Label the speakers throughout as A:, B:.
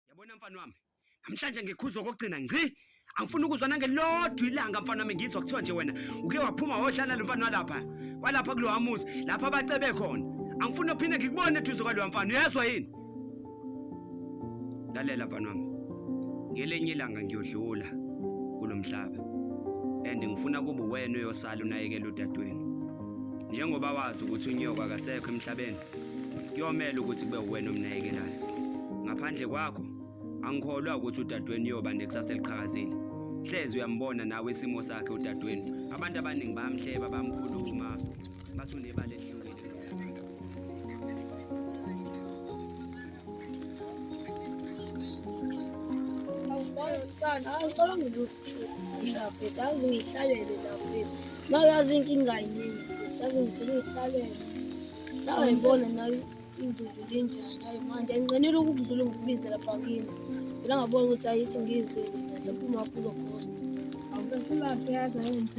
A: Yabona mfana wami, namhlanje ngikhuzwa kokugcina ngci. Angifuni ukuzwa nangelodwa ilanga mfana wami ngizwa kuthiwa nje wena uke waphuma wodlala lo mfana walapha. Walapha kulowa muzi lapha abacebe khona. Angifuni uphinde ngikubone eduze kwalowa mfana. Uyezwa yini? lalela mfana wami ngelenye ilanga ngiyodlula kulomhlaba and ngifuna kuba wena oyosala unayekela udadewenu njengoba wazi ukuthi unyoka akasekho emhlabeni kuyomela ukuthi kube uwena omnayekelayo ngaphandle kwakho angikholwa ukuthi udadewenu uyoba nekusasa eliqhakazile hlezi uyambona nawe isimo sakhe udadewenu abantu abaningi bayamhleba bamkhuluma
B: ngathi unebala elihlukile awucabanga ukuthi ngiyaphetha azi ngihlalele laphetha nawe yazi inkinga yiningi futhi azi ngifuna uyihlalele nawe yibona nayo izulu linjani ayi manje anginqenela ukukudlula ngikubize lapha kimi phela ngabona ukuthi ayithi ngizile lapho umakhulu khona awubefuna uyazi ayenze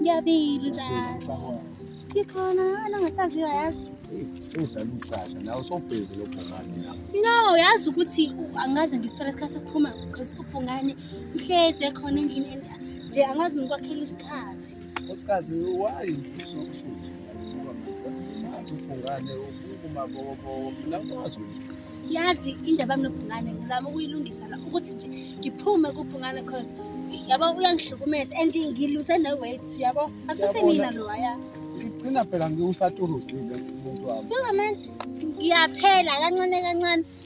B: Ngiyabili njalo. Ngikhona nongasaziwa yazi. Udlala
C: ucaca nawe sobhezi lobhungane la. No, yazi ukuthi
B: angaze ngisole isikhathi sokuphuma because ubhungane uhlezi ekhona endlini nje angazi ngikwakhela isikhathi osikazi
C: wayi usuumaziubhungane umabokobowo mina kwazi nje yazi indaba
B: yami nobhungane ngizama ukuyilungisa la ukuthi nje ngiphume kubhungane cause yabo uyangihlukumeza and ngiluse ne-weight yabo akusesemina lo waya ngigcina phela
C: ngiwusaturuzile umuntu wami njengamanje
B: ngiyaphela kancane kancane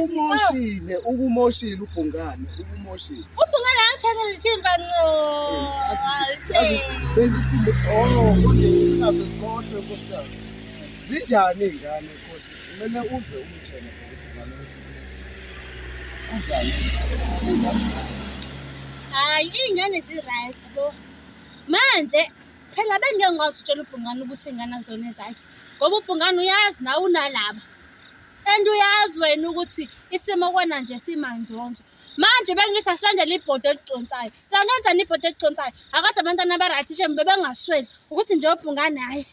B: Ukumoshile,
C: ukumoshile ubhungane, ukumoshile. Ubhungane angithengele
B: ishimba nco.
C: Bengiphinde oh, kodwa isikhathi sikhohle nkosikazi. Zinjani izingane nkosi? Kumele uze umtshele ubhungane
B: ukuthi kunjani. Hayi, izingane zi-right bo. Manje phela bengeke ngikwazi ukutshela ubhungane ukuthi ingane akuzona ezakhe. Ngoba ubhungane uyazi nawe unalaba. and uyazi wena ukuthi isimo kona nje simanzonzo manje bengithi asilandele ibhodo eliconsayo langenzani ibhodo eliconsayo akade abantwana abarayithi shem bebengasweli ukuthi nje obhungane hhayi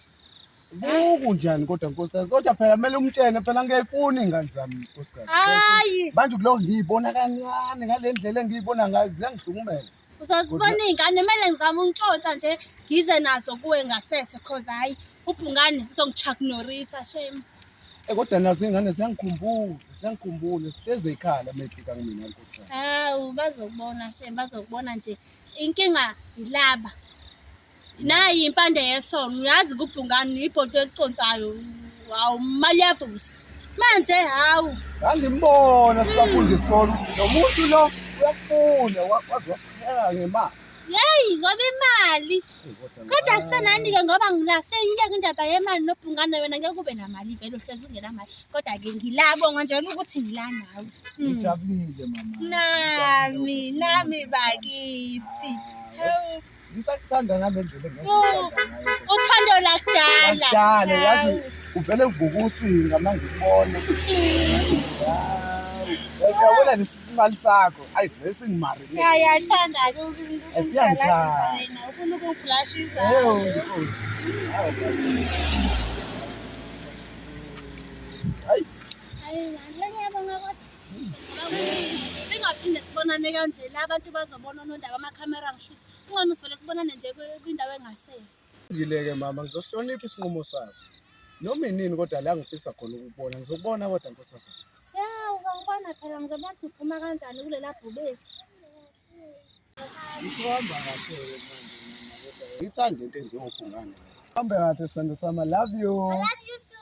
B: buku
C: njani kodwa nkosikazi kodwa phela kumele umtshene phela ngiyayifuna iy'ngane zami nkosikazi hayi manje
B: kuloko ngiyibona
C: kancane ngale ndlela engiyibona ngayo ziyangihlukumeza
B: uzozibona iy'ngane kumele ngizame untshontsha nje ngize nazo kuwe ngasese cause hhayi
D: Ubhungane uzongichaknorisa shame. Eh kodwa nazo
C: ingane ziyangikhumbula, ziyangikhumbula sihleze ikhala mefika kumina nkosikazi. Hawu bazokubona
D: shame, bazokubona nje. Inkinga yilaba. Nayi impande yesono, uyazi kubhungane uyibhodo eliconsayo. Hawu imali yavusa. Manje hawu. Ngangimbona
C: sisafunda isikole ukuthi lo muntu lo uyafunda, waze wapheka ngemali. Yeyi ngoba
D: imali. kodwa kusenani-ke ngoba ngila seyiyeka indaba yemali nobhungane wena ngeke ube namali vele uhlezi ungenamali kodwa-ke ngilabo nganjena ukuthi ngila nawe hmm. ngijabulile mama
C: nami nami
D: bakithi ngisakuthanda
C: ngale ndlela uthando
D: lakudala yazi
C: uvele uvuka usinga mangikubone hmm. yabona nesimali sakho Ayi vele singimari. Ya ya thanda ke
D: ukungibulashisa wena. Ufuna ukungibulashisa. Yebo inkosi. Hayi. Hayi ngale
C: ngiyabonga
D: kodwa. Singaphinde sibonane kanje la abantu bazobona onondaba ama camera ngishuthi. Kungcono sivele sibonane nje kwindawo engasese. Ngileke mama
C: ngizohlonipha isinqumo sakho. Noma inini kodwa la ngifisa khona ukubona ngizokubona kodwa nkosazana. Ya uzongibona
D: phela ngizobona ukuthi uphuma kanjani kulela bhubesi.
C: Ngihamba kahle manje. Ngithanda into enziwa uphungane. Hambe kahle sithando sami. Love you. I love you too.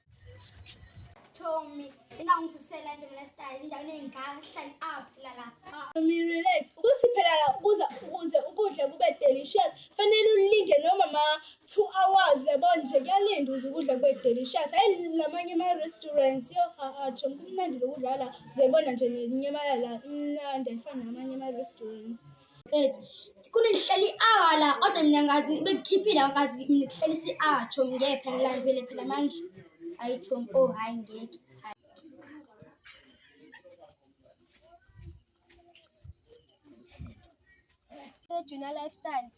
E: Tommy, ingangizisela nje mina style endaweni engahlali up la la. Tommy relax.
F: Ukuthi phela la ukuza ukuze ukudla kube delicious, fanele ulinde noma ma 2 hours yabo nje kuyalinda ukuze ukudla kube delicious. Hayi lamanye ama restaurants yo a a Tommy kumnandi lokudlala. Uzoyibona nje nenyama yala imnandi ayifani namanye ama restaurants. Mfethu,
E: khona ngihleli i-hour la kodwa mina ngazi bekukhiphile ngazi mina kuhleli isi-hour chomi ngeke phela ngilambile phela manje hayi chomi oh hayi ngeke hayi. Junior Lifestyles.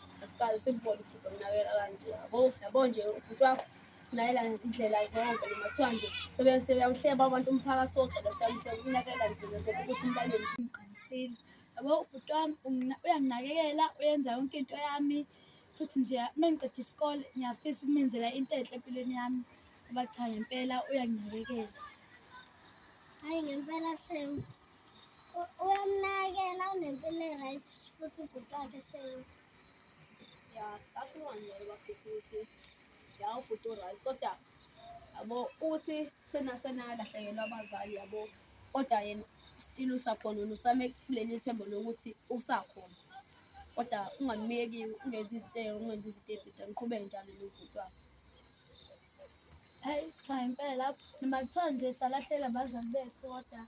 F: asikaze simbone ubhuti omnakela kanje yabo yabo nje ubhuti wakho unakela indlela zonke noma kuthiwa nje sebeyawuhleba abantu umphakathi wonke losayihleba ukunakela ndlela zonke ukuthi umlaleli simqinisile yabo ubhuti wami uyanginakekela uyenza yonke into yami futhi nje uma ngiqeda isikole ngiyafisa ukumenzela into enhle empilweni yami ngoba cha ngempela uyanginakekela
E: hayi ngempela shem Uyamnakela unempilo e-right futhi ubhuti wakhe shame. Ya
F: sikasho uwangele bafethu ukuthi ya ubhuti u-right kodwa yabo uthi senasenalahlekelwa abazali yabo kodwa yena still usakhona usame kuleli thembo lokuthi usakhona kodwa ungamyeki ungenzi izinto ungenzi izinto ebhida ngiqhubeke njalo nobhuti wakho Hayi
G: cha impela noma kuthiwa nje salahleka abazali bethu kodwa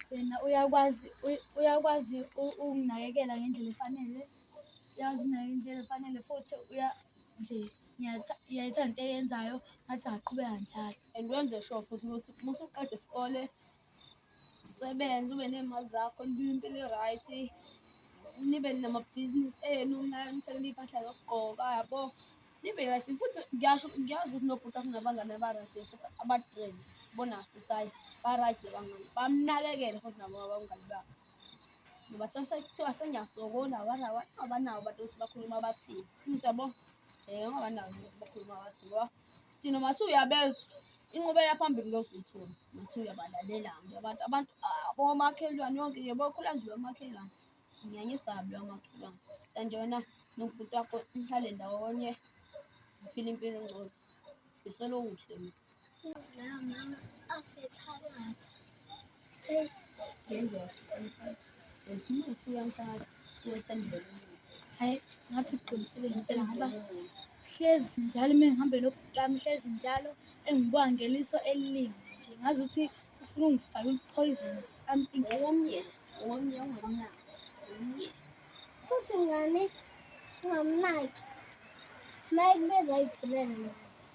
G: wena uyakwazi uyakwazi ukunakekela ngendlela efanele, uyazi ukunakekela ngendlela efanele futhi uya nje uyayithanda into eyenzayo ngathi ungaqhubeka njalo and wenze sure futhi
F: ukuthi uma usuqeda isikole usebenze ube ney'mali zakho nibe impilo i-right nibe namabhizinisi enu nithengele iy'mpahla zokugqoka yabo nibe right futhi ngiyasho ngiyazi ukuthi nobhuti afuna abangane aba-right futhi abadrain bona futhi hhayi ba-right labangane bamnakekele futhi nabo abangane babo ngoba sekuthiwa sengiyasokola abanawo abantu ukuthi bakhuluma abathini ngithi yabo um abanawo bakhuluma abathini ngoba Sithina uma suyabezwa inqubela phambili ngiyozuyithola ngathi uyabalalela nje abantu abantu ah, bomakhelwane yonke nje bokhula nje bomakhelwane ngiyanyesabi lomakhelwane kanti wena nobhuti wakho nihlale ndawonye uphile impilo engcono ngisolo kuhle mina Inhliziyo yami
E: afetha kathi.
F: Hey, ngenzeka futhi emsamo. Uphuma uthi uyamfaka, usuke esendleleni. Hayi,
G: ngathi uqinisile ngisela ngoba hlezi njalo uma ngihambe nobhuti wami hlezi njalo engibuka ngeliso eliningi nje ngazi ukuthi ufuna ungifake i-poison or something Owomye, owomye
F: ongamnaki. Owomye.
E: Futhi ngane ungamnaki. Uma ekubeza ayithulele.